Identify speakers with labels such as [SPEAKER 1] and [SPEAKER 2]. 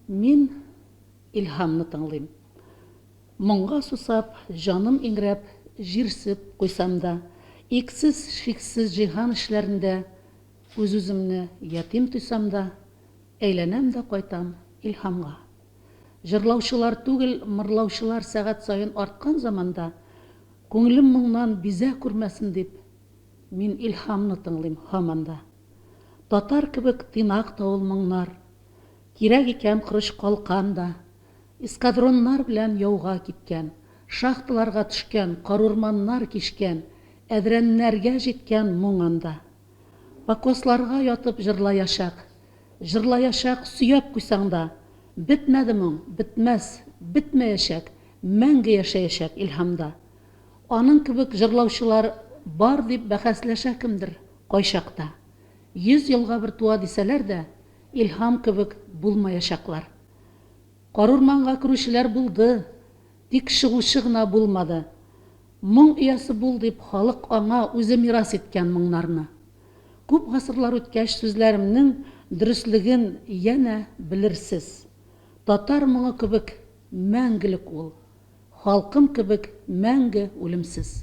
[SPEAKER 1] Мин Илһамны тыңлыйм. Моңга сусап, җаным иңрәп, җирсеп куйсам да, иксез-чиксез җиһан эчләрендә үз-үземне ятим тойсам да, әйләнәм дә кайтам Илһамга. Җырлаучылар түгел, мырлаучылар сәгать саен арткан заманда, күңелем моңнан бизә күрмәсен дип, мин Илһамны тыңлыйм һаман да. Татар кебек тыйнак та ул моңнар. Кирәк икән корыч калкан да. Эскадроннар белән яуга киткән, шахталарга төшкән, карурманнар кичкән, әдрәннәргә җиткән моң анда. Покосларга ятып җырлаячак. Җырлаячак, сөяп куйсаң да. Бетмәде моң, бетмәс, бетмәячәк, Мәңге яшәячәк илһамда. Аның кебек җырлаучылар Бар дип бәхәсләшә кемдер, кайчакта. Йөз елга бер туа дисәләр дә, Илһам кебек булмаячаклар. Карурманга керүчеләр булды, Тик чыгучы гына булмады. Моң иясе бул, дип халык аңа үзе мирас иткән моңнарны. Күп гасырлар үткәч сүзләремнең дөреслеген янә белерсез. Татар моңы кебек мәңгелек ул. Халкым кебек мәңге үлемсез.